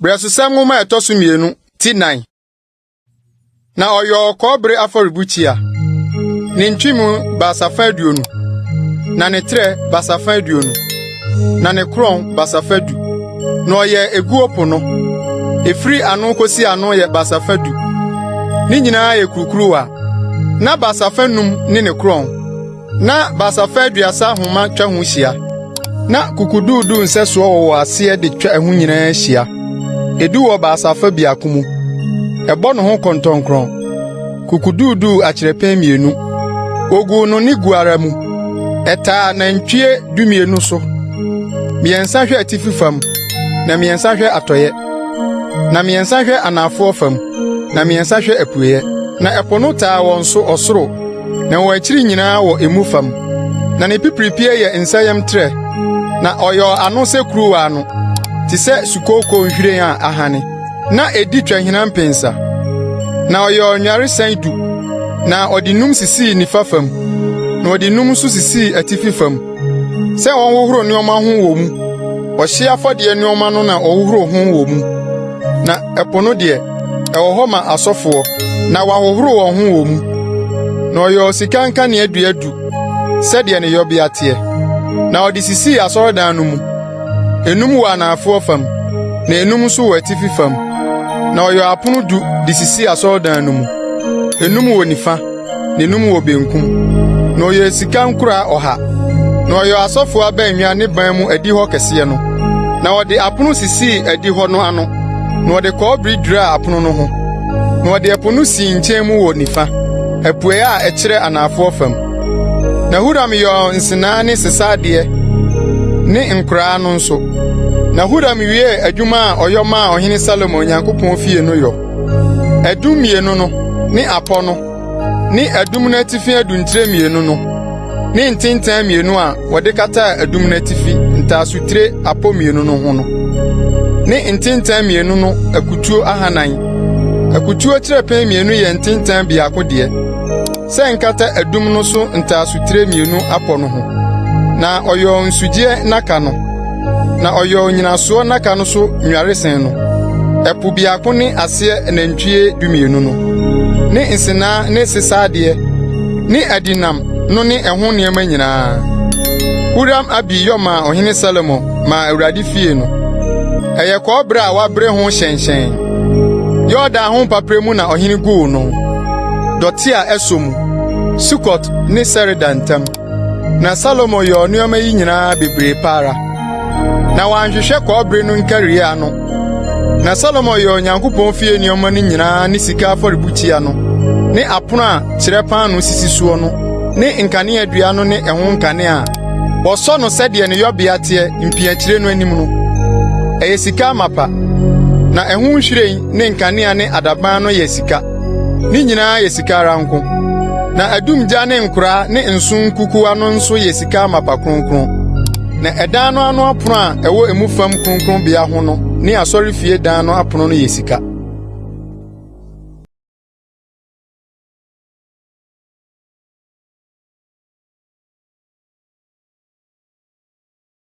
Brɛsosɛm nwoma a ɛtɔ so mmienu ti nan. Na ɔyɔɔ kɔbere afɔrebukyia, ne ntwemu basafa aduonu, na ne trɛ basafa aduonu. na ne korɔn basafa du, na ɔyɛ eguo po no. Efiri ano kosi ano yɛ basafa du. Ne nyinaa yɛ kurukuruwa. Na basafa num ne ne korɔn, na basafa aduasa nhoma twa ho hyia. Na kukuduudu nsɛsoɔ wɔwɔ aseɛ de twa ɛho nyinaa hyia. Edu wɔ basafa biako mu. Ɛbɔ ne ho kɔntɔnkrɔn. kokoduuduu akyerɛpɛn mmienu. Woguu no ne gu ara mu. Ɛtaa nantwie dumienu so. Mmiɛnsa hwɛ atifi fam, na mmiɛnsa hwɛ atɔeɛ, na mmiɛnsa hwɛ anaafoɔ fam, na mmiɛnsa hwɛ apueeɛ. Na ɛpo no taa wɔn so ɔsoro, na wɔn akyiri nyinaa wɔ emu fam. Na ne pipiripie yɛ nsayam trɛ, na ɔyɔɔ ano sɛ kuruwa ano, te sɛ sukooko nhwiren a ahane. na edi twa hina mpensa. Na ɔyɛɛ ɔnyaresan du, na ɔde nnum sisii nifa fam, na ɔde nnum nso sisii atifi fam sɛ wɔnhohoro nneɛma ho wɔ mu. Ɔhyeɛ afɔdeɛ nneɛma no na wɔhohoro ho wɔ mu, na ɛpo no deɛ, ɛwɔ hɔ ma asɔfoɔ, na wɔahohoro wɔn ho wɔ mu. Na ɔyɛɛ sika nkaneadua du sɛdeɛ ne yɔbea teɛ, na ɔde sisii asɔredan no mu. Enum wɔ anaafoɔ fam, na enum nso wɔ atifi fam. Na ɔyɛɛ apono du de sisii asɔredan no mu, enum wɔ nifa, na enum wɔ benkum. Na ɔyɛɛ sika nkuraa ɔha. Na ɔyɛɛ asɔfoɔ abannwa ne ban mu adihɔ kɛseɛ no. Na ɔde apono sisii adihɔ no ano, na ɔde kɔbere duraa apono no ho. Na ɔde ɛpo no sii nkyɛn mu wɔ nifa, apueeɛ a ɛkyerɛ anaafoɔ fam. Na Huram yɔɔ nsenaa ne sesadeɛ ne nkoraa no nso. Na Huram wiee adwuma a ɔyɔ maa Ɔhene Salomo Onyankopɔn fie no yɔ. Adum mmienu no ne apɔ no ne adum no atifi adutire mmienu no ne ntentan mmienu a wɔde kataa adum no atifi ntaasotire apɔ mmienu no ho no ne ntentan mmienu no akutuo ahanan. Akutuo kyerɛpɛn mmienu yɛ ntentan biako deɛ. sɛ nkata adum no so ntaasotire mmienu apɔ no ho. Na ɔyɔɔ nsugyeɛ nnaka no, na ɔyɔɔ nnyinasoɔ nnaka no so nnwaresɛn no. Ɛpo biako ne aseɛ anantwie dumienu no, ne nsenaa ne sesadeɛ ne adinam no ne ɛho nneɛma nyinaa. Huram-Abi yɔ maa Ɔhene Salomo maa Awurade fie no. Ɛyɛ kɔbere a wɔabere ho hyɛnhyɛn. Yordan ho mpaperɛ mu na ɔhene guu no. dɔte a ɛsɔ mu, Sukot ne Sereda ntam. Na Salomo yɔɔ nneɛma yi nyinaa bebree pa ara. Na wanhwehwɛ kɔbere no nkari ano. Na Salomo yɛɛ Onyankopɔn fie nneɛma no nyinaa ne sika afɔrebukyia no ne apono a kyerɛ paanoo sisi soɔ no ne nkaneadua no ne ɛho nkanea a wɔsɔ no sɛdeɛ ne yɔbea teɛ mpiakyire no anim no. Ɛyɛ sika amapa, na ɛho nhwiren ne nkanea ne adaban no yɛ sika. Ne nyinaa yɛ sika ara nko, na adumgya ne nkora ne nsõ nkukuwa no nso yɛ sika amapa kronkron. Na ɛdan no ano apon a ɛwɔ emu fam kronkronbea ho no ne asɔrefie dan no apon no yɛ sika.